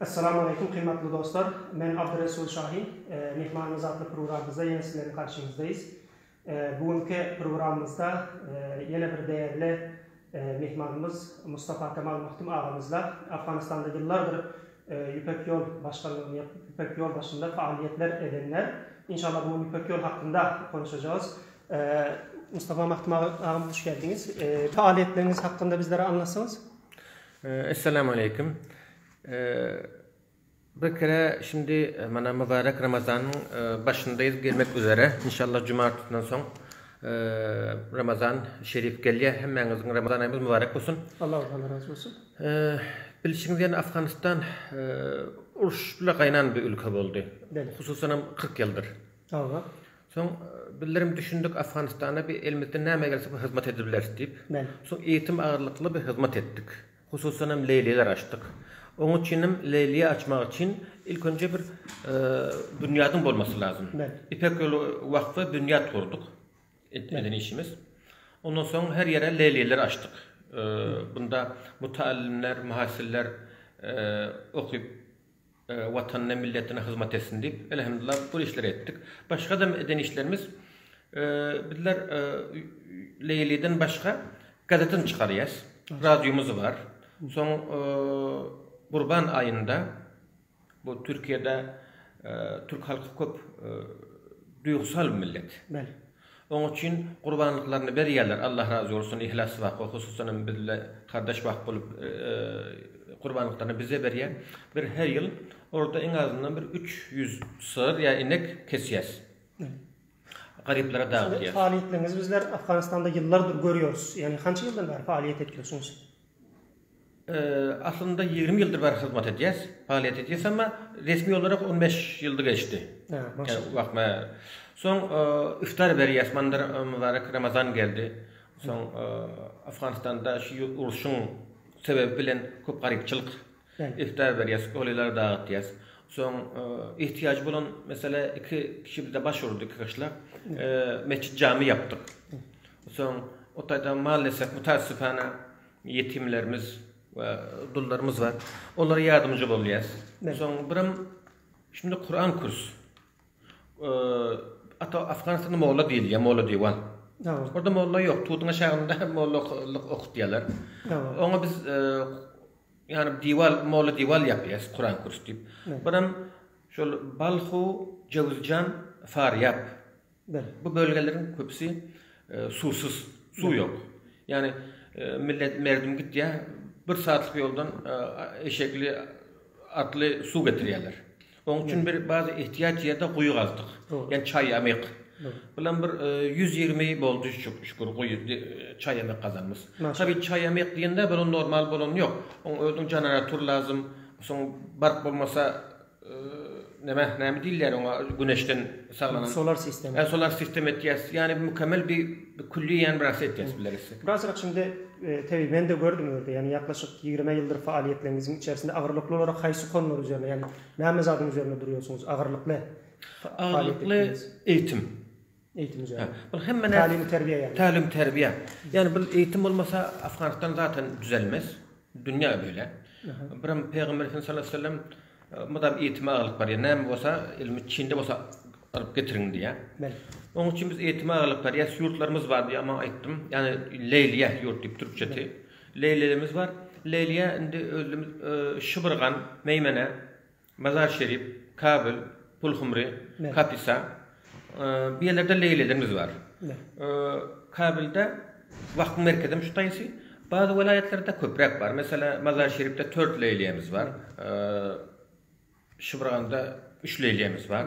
Essalamu Aleýkum Gymmatly Dostlar! Men Abdyresul Şahin. Myhmanymyz atly programmyzda ýene sizleriň garşyňyzdaýys. Bu günki programmyzda ýene bir dägli myhmanymyz Mustafa Kemal Magtym agamyzla Afganystanda ýyllardyr Ýüpek ýol başganlygyny ýap Ýüpek ýol başynda faaliýetler edenler. Inşallah bu gün Ýüpek ýol hakynda konuşajagys. Mustafa Magtym agam hoş geldiňiz. Faaliýetleriňiz hakynda bizlere aňlatsaňyz? Essalamu aleýkum. Bir kere şindi mana mübarek Ramazanyň başyndaýyz gelmek üzere. Inşallah jumartdan soň Ramazan şerif gelýär. Hemmäňiziň Ramazan aýymyz mübarek bolsun. Allahdan razy bolsun. Bilşiňiz ýaly Afganistan uruş bile gaýnan bir ülke boldy. Hususanam 40 ýyldyr. Hawa. Soň bildirim düşündik Afganistana bi elimizden näme gelse bir hyzmat edip bileris diýip. Bel. Soň eýitim agyrlykly bir hyzmat etdik. Hususan hem Leýliler açdyk. Oň üçin hem Leýliýe açmak üçin ilk önje bir binýadyň bolmasy lazym. Bel. Ipek ýoly wakfa binýat gurduk. Ilk eden işimiz. Ondan soň her ýere Leýliler açdyk. Bunda mutaallimler, muhasiller eee okyp Watanyna, milletine hyzmat etsin diýip, elhamdullah bu işleri etdik. Başga-da eden işlerimiz, bizler Leýliden başga gazetini çykarýas, radiomyz bar. Soň Gurban aýynda bu Türkiýede türk halky köp duýgusal millet. Oň üçin gurbanlyklaryny berýärler Allah razy bolsun yhlas wako hususanam bizle kardeş wak bolup gurbanlyklaryny bize berýär bir her ýyl orda iň azyndan bir üç ýüz sygyr ýa inek kesýäs garyplara dagtýas. Faaliýetlerinizi bizler Afganistanda ýyllardyr görýoris ýagny hança ýyldan bäri faaliýet etýorsuňyz? Aslynda ýigrimi ýyldyr bäri hyzmat edýäs, faaliýet edýäs, emma resmi olarak on bäş ýyldy geçdi. Soň iftar berýäs, mandyr mübarek Ramazan geldi. Soň Afganistanda şu uruşyň sebebi bilen köp garypçylyk. Iftar berýäs, golylara dagatýas. Soň ihtiýajy bolan mesele iki kişi bizde baş urdy, iki gyşlak. Metjit-jami ýapdyk. Soň o taýdan mal desek, mutar-süpana Ýetimlerimiz we dullarymyz bar. Olara ýardamjy bolýas. Soň birem şunda Kuran kurs. Ata Afganistanda molla diýilýär, molla diwan. Orada molla ýok. Tuduň aşagynda molla okutýarlar. Oňa biz ýani diwal molla diwal ýapýas Kuran kurs diýip. Birem şol Balhu, Jewizjan, Faryap. Bir. Bu bölgeleriň köpüsi suwsuz, suw ýok. Ýagny millet merdim gitýä, bir saatlyk ýoldan eşekli, atly suw getirýäler. Oň üçin bir bazy ehtiýaç ýerde guýy gazdyk. Ýani çaýamyk. Bulam bir ýüz ýigrimi boldy şükür guýy çaýamyk gazanymyz. Tabi çaýamyk diýende bir normal bolany ýok. Oň özüniň janaratur lazym. Soň bark bolmasa Näme näme diýilýär oňa güneşden saglanan. Solar sistem. Hä solar sistem etýäs. Ýani mükemmel bir külli ýan bir aset etýäs bileris. Birazrak şindi tebi men de gördüm ýerde ýani ýaklaşyk ýigrime ýyldyr faaliýetleriňiziň içerisinde agyrlykly olara haýsy konlar üzerine ýani näme zadyň üzerine durýarsyňyz agyrlykly? Agyrlykly eýitim. Eýitim jaýy. Bul hemme nä? Talim terbiýe ýaly. Talim terbiýe. Ýani bul eýitim bolmasa Afganistan zaten düzelmez. Dünýä beýle. Birem Pygamber Efendimiz sallallahu aleyhi ve sellem mydam eýitime agyrlyk berýär. Näme bolsa ilmi çinde bolsa alyp getiriň diýýär. Bel. Oň üçin biz eýitime agyrlyk berýäs. Ýurtlarymyz bar diýýär. Maňa aýtdym. Ýani Leýliýe ýurt diýip türkçesi. Leýlilerimiz bar. Leýliýe indi özümiz şybyrgan, meýmene Mazar-Şerif, Kabyl, Pulhumri, Kapisa, bu ýerlerde leýlilerimiz bar. Kabylda wahbyň merkezi hem şu taýsy. Bazy welaýatlarda köpräk bar. Meselä, Mazar-Şerifde tört leýliýemiz bar. Şybrganda üç leýliýemiz bar.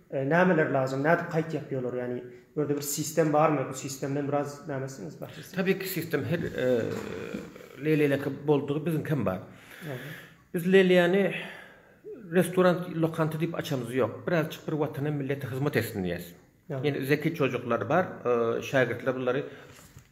Nämeler lazym, nädip kaýt ýapýolar, ýagny özde bir sistem barmy, bu sistemden biraz näme etseniz başlasyn. Tabii ki sistem her leleleki boldugy biziňkem bar. Biz lelýany restorant lokanta diýip açamyz ýok. Birazjyk bir watana millete hyzmat etsin diýýäs. Ýene zeki çojuklar bar, şägirtler bulary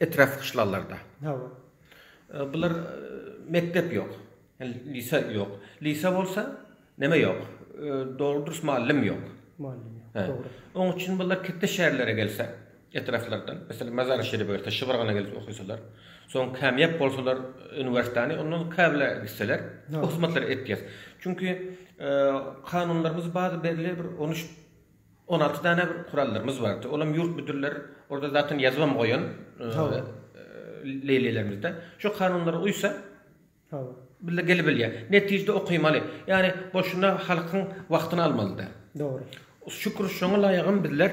Etrap gyşlalarda. Hawa. Bular mekdep ýok. Lise ýok. Lise bolsa neme ýok. Dogry dürüst mallym ýok. Mallym ýok. Dogry. Oň üçin bular ketde şäherlere gelse, etraplardan, meselem Mazar-y Şerife gelse, Şybrgana gelip okysalar, soň kämýap bolsalar uniwersitany, onda käbile gitseler, bu hyzmatlary etýär. Çünki kanunlarymyz bar, belli bir on üç On alty dana bir kurallarymyz bardy. Olam ýurt müdürleri orada zatyn ýazybam goýan leýlelermizde. Şo kanunlara uýsa billa gele bilýär. Netijede okymaly. Ýani boşuna halkyň wagtyny almaly däl. Dogry. Şükür şoňa laýygam bizler.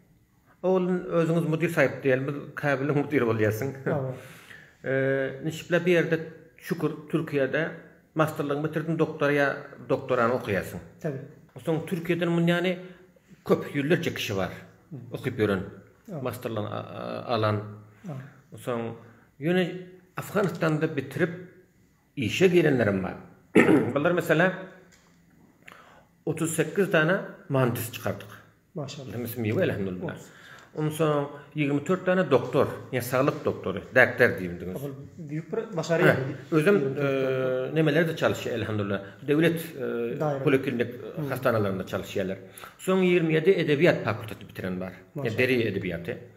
Oglun özüňiz mudyr saýyp diýeli biz kabeliň mudiri bolýarsyň. Nişikler bu ýerde şükür Türkiýede masterligiňi bitirdiň doktora ýa doktorany okaýarsyň. Tabi. Soň Türkiýeden muny ýany köp ýüzlerçe kişi bar okyp ýören masterligiňi alan. Soň ýöne Afganistanda bitirip Işe girenlerem bar. Bular meselä otuz sekiz dana mandys çykardyk. Maşallah. Hemmesi miwe elhamdulillah. Ondan soň ýigrimi dört dana doktor, ýa saglyk doktory, daktar diýildiňiz. Ol diýip bir başarýar. Özüm nemelerde çalyşýar elhamdulillah. Döwlet poliklinik hastanalarynda çalyşýarlar. Soň ýigrimi ýedi edebiýat fakulteti bitiren bar. Deri edebiýaty.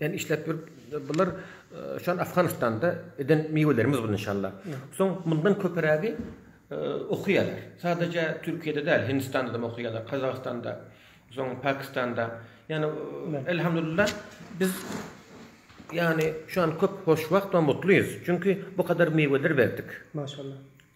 Ýani işläp ýörüp bular şol Afganistanda eden miwelerimiz bul inşalla. Soň mundan köpirägi okuýarlar. Sadaja Türkiýede däl Hindistanadam okuýarlar, Kazagystanda, soň Pakistanda. Ýani elhamdulillah biz ýani şu an köp hoşwagt we mutlyýyz. Çünki bu kadar miweler berdik. Maşallah.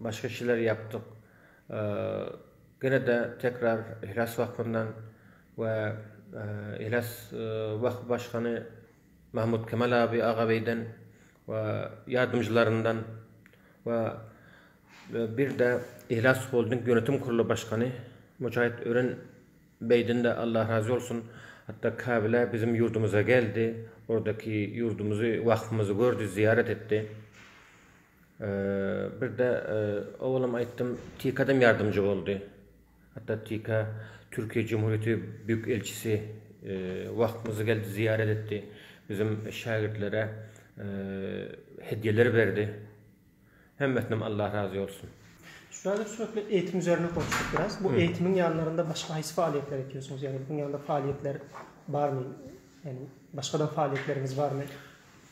Başga işleri ýapdyk. Ýene-de tekrar Yhlas Wahfyndan we Yhlas Wahf başgany Mahmut Kemal Abi Agabeýden we ýardymjylaryndan we bir-de Yhlas Holding ýönetim kurly başgany Mujahit Ören beýden-de Allah razy bolsun, hatda Kabile biziň ýurdumyza geldi, ordaki ýurdumyzy, Wahfymyzy gördi, zyýarat etdi. Birde owalam aýtdym, TK-dam ýardamçy boldy. Hatda TK Türkiýe Cumhuriyeti Büyük Elçisi wagtymyzy geldi zyýarat etdi. Bizim şägirtlere hedýeler berdi. Hemmesinem Allah razy bolsun. Üstadyň suratly eýitim üzerine konuşdyk biraz. Bu eýitimiň ýanlarynda başga haýsy faaliýetler etýorsyňyz? Ýagny buň ýanynda faaliýetler barmy? Ýagny başgadam faaliýetleriňiz barmy?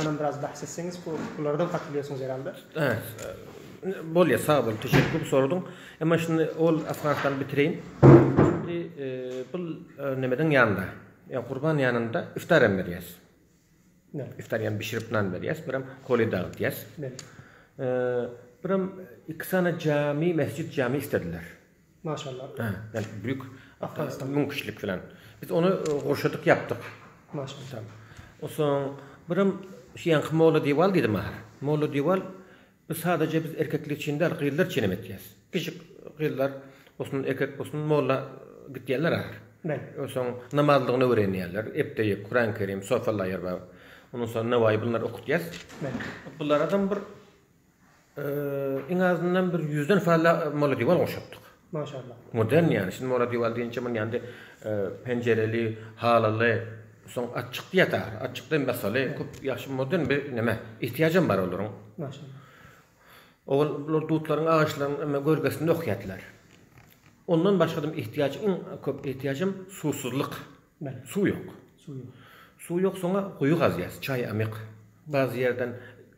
Onam biraz bahs etseňiz bu bulardan gaty bilýärsiňiz herhalda. Bolýar sag bol teşekkür köp soradyň. Emma şunda ol Afganistany bitireýin. Indi bu nemeden ýanynda. Ýa gurban ýanynda iftar hem berýäs. Iftar ýa bişirip nan berýäs, birem koli dagydýas. Birem iki sany jami, mesjid jami istediler. Maşallah. Hä, ýani büyük Afganistan. müň kişilik filan. Biz ony e, gurşadyk ýapdyk. Maşallah. Tamam. Onsoň birem şu ýaňky Molla Diwal diýdi maňa. Molla Diwal biz sadaje biz erkekler üçin däl, gyzlar üçin hem etýäs. Pişik gyzlar bolsun, erkek bolsun molla gitýänler ahir. Bel. Onsoň namazlygyny öwrenýärler. Epdeýek, Kuran Kerim, Sofa Laýerbab. Ondan soň Nawaýy bunlary okutýas. Bel. Bular adam bir Iň azyndan bir ýüzden fazla molodiwal goşupdyk. Maşallah. Modern ýaly. Şindi molodiwal diýinçe muny ýandy penjereli, halyly, soň açyk diýeta, açykda masaly köp ýagşy modern bir näme, ihtiýajam bar olaryň. Maşallah. Owal bular dutlaryň agaçlaryň emma görgesinde okýardylar. Ondan başga-da ihtiýajyň köp ihtiýajym suwsuzlyk. Suw ýok. Suw ýok soňa guýy gazýas çaý amyk bazy ýerden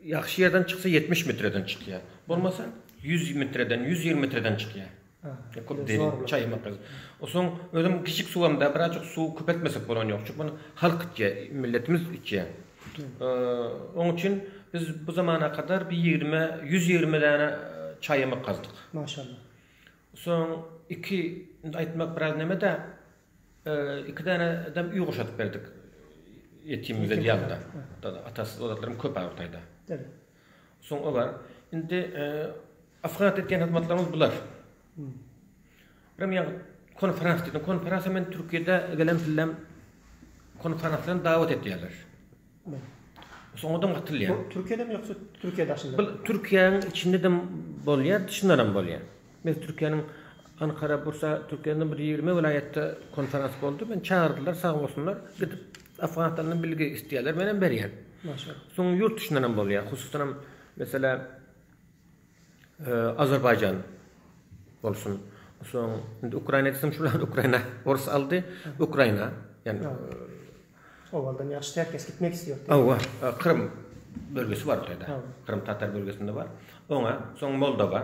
ýagşy ýerden çyksa ýetmiş mitreden çykýa bolmasa ýüz mitreden ýüz ýigrimi mitreden çykýa köp derin çaý amyk gazy osaň özem kiçik suwam da birazjyk suw köpeltmesek bolan ýok çünki muny halk içýa milletimiz içýa oň üçin biz bu zamana kadar bir ýigrime ýüz ýigrime däne çaý amyk gazdyk maşallah soň iki indi aýtmak biraz nemede Iki däne dem uý gurşadyp berdik. Ýetim bize diýýärdi. Atasyz zatlarym köp bar Hytaýda. Soň o bar. Indi Afganat etýän hyzmatlarymyz bular. Birim ýa konferans diýdim. Konferansa men Türkiýede gelen sillem konferansa dawat etýärler. Soňadan gatylýar. Bu Türkiýedemi ýoksa Türkiýe daşynda? Bu Türkiýäň içindede bolýar, dşyndanam bolýar. Men Türkiýäniň Ankara, Bursa, Türkiýäniň bir ýigrimi welaýatda konferans boldy. Meni çagyrdylar, sag bolsunlar. Gidip Afganistandan bilgi isleýärler, menem berýän. Maşallah. Soň ýurt dşyndanam bolýar. Hususanam, meselem, Azerbaýjan bolsun. Soň indi Ukraina desem şular Ukraina orus aldy. Ukraina ýani Owaldan ýagşy her kes gitmek istiýär. Hawa, Krym bölgesi bar taýda. Krym tatar bölgesinde bar. Oňa soň Moldowa,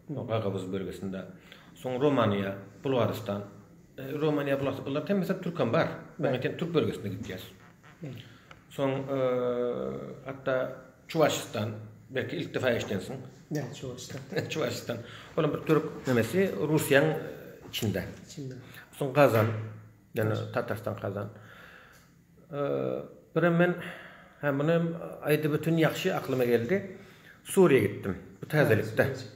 Gagawuz bölgesinde. Soň Romaniýa, Bulgaristan. Romaniýa, Bulgaristan bular hemmesi türkem bar. Türk bölgesinde gitýär. Soň hatda Çuwaşystan belki ilk defa eşidensiň. Näme Çuwaşystan? Çuwaşystan. Olam bir türk nemesi Russiýaň içinde. Içinde. Soň Gazan. Ýene Tatarystan Gazan. Birem men ha muny aýdyp ötün ýagşy aklyma geldi. Suriýa gitdim. Bu täzelikde.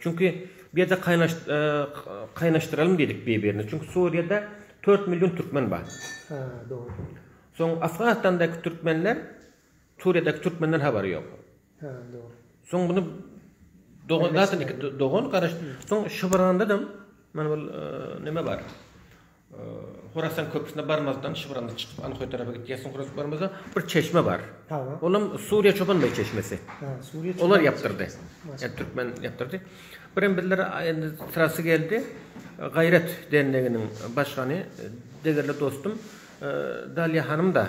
Çünki bu ýerde kaýnaşdyralyň diýdik bir birini. Çünki Suriýada dört million türkmen bar. Hä dogry. Soň Afganistandaky türkmenler Suriýadaky türkmenden habary ýok. Hä dogry. Soň bunu dogan zaten iki dogan garaş. Soň şybrandadam mana bu neme bar. Horasan köprüsine barmazdan şybranda çykyp Anhoý tarapa gitýärsiň horasan barmazdan bir çeşme bar. Olam Suriýa Çoban beý çeşmesi. Olar ýapdyrdy. Ýa türkmen ýapdyrdy. Birem bizler indi syrasy geldi. Gaýrat derneginiň başgany degerli dostum Daliýa hanym da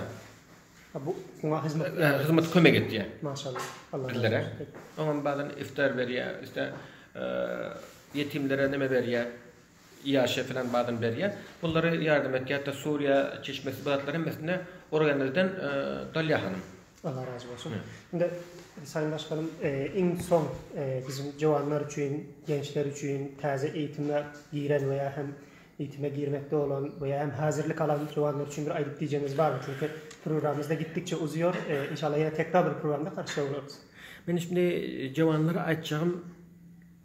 bu oňa hyzmat hyzmat kömek etýär. Maşallah. Allah bizlere. Oňam badan iftar berýär, işte ýetimlere neme berýär. Ýaşa filan badyny berýär. Bullary ýardam et ýa-da Suriýa çeşmesi bu zatlar hemmesine Organelden dalýa hanym. Allah razy bolsun. Indi Saýyn Başganym iň soň bizim jowanlar üçin, gençler üçin täze eýitime giren we ýa hem eýitime girmekde bolan we ýa hem häzirlik alan jowanlar üçin bir aýdyp diýjegiňiz barmy? Çünki programmamyzda gitdikçe uzýar. Inşallah ýene tekrar bir programda garşyda bolarys. Meniň indi jowanlara aýtjagym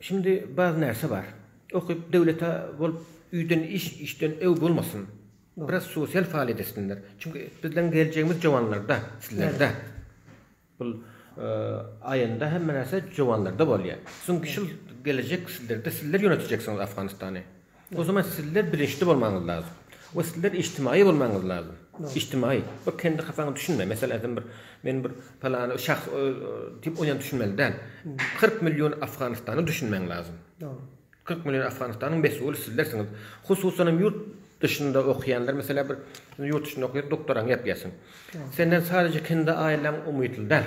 Şimdi baz närse bar. Okyp döwlete bolup üýden iş işden öw bolmasyn. Biraz sosial faaliýet etsinler. Çünki bizleň geljegimiz jowanlarda, sizlerde. Bul aýynda hemme närse jowanlarda bolýa. Siziň şul gelejek sizlerde sizler ýönetjeksiňiz Afganistany. O zaman sizler bilinçli bolmaňyz lazym. We sizler içtimaýy bolmaňyz lazym. Içtimaýy. Bir kendi hasaňa düşünme. Meselem aýtsam bir men bir palany şahs diýip oýan düşünmeli däl. Kyrk million Afganystany düşünmäň lazym. Kyrk million Afganystanyň mesuly sizlersiňiz. Hususanam ýurt duşynda okýanlar meselem bir ýurt duşynda okýar doktoraň ýapýarsyň. Senden sadece kendi aýlaň umytly däl.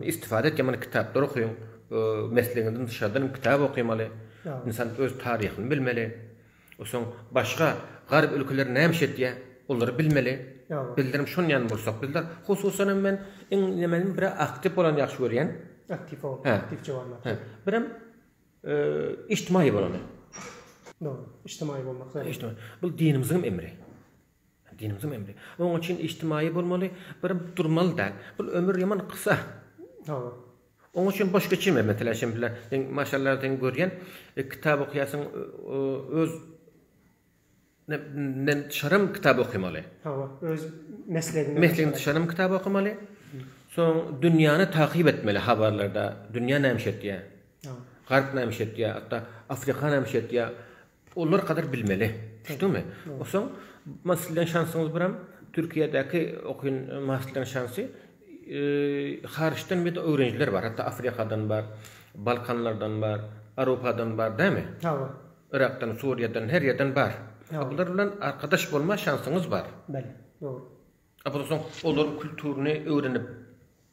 Istifada etýän maňa kitaplar okyň. Meslegiňizden dyşardan hem kitap okamaly. Ynsan öz taryhyny bilmeli. Soň başga garp ülkeler näme iş etýär, olary bilmeli. Bizlerem şon ýaly bolsak bizler. Hususan hem men iň nämäni bir aktiw bolany ýagşy görýän. Aktiw ol. Aktiw jawanlar. Hä. Birem ijtimaýy bolany. Dogry. Ijtimaýy bolmak zerur. Bul dinimiziň emri. Dinimiziň emri. Oň üçin ijtimaýy bolmaly, bir durmaly däl. Bul ömür ýaman kysa. Hawa. Oň üçin boş geçirme meselä şem bile. Seň maşallah seň görýän kitap okýasyň öz nen çaram kitap okymaly. Hawa, öz meslegiňden. Meslegiňden çaram kitap okymaly. Soň dünýäni takyp etmeli habarlarda. Dünýä näme iş etýär? Hawa. Garp näme iş etýär? Hatda Afrika näme iş etýär? Olar gadyr bilmeli. Düşdüňmi? Osaň masterleň şansyňyz biram Türkiýedäki okyn masterleň şansy haryçdan bir de öwrenijiler bar. Hatda Afrikadan bar, Balkanlardan bar, Aropadan bar dämi? Hawa. Yrakdan, Suriýadan her ýerden bar. Bular bilen arkadaş bolma şansyňyz bar. Bele. Dogry. Abyl osaň olaryň kulturyny öwrenip.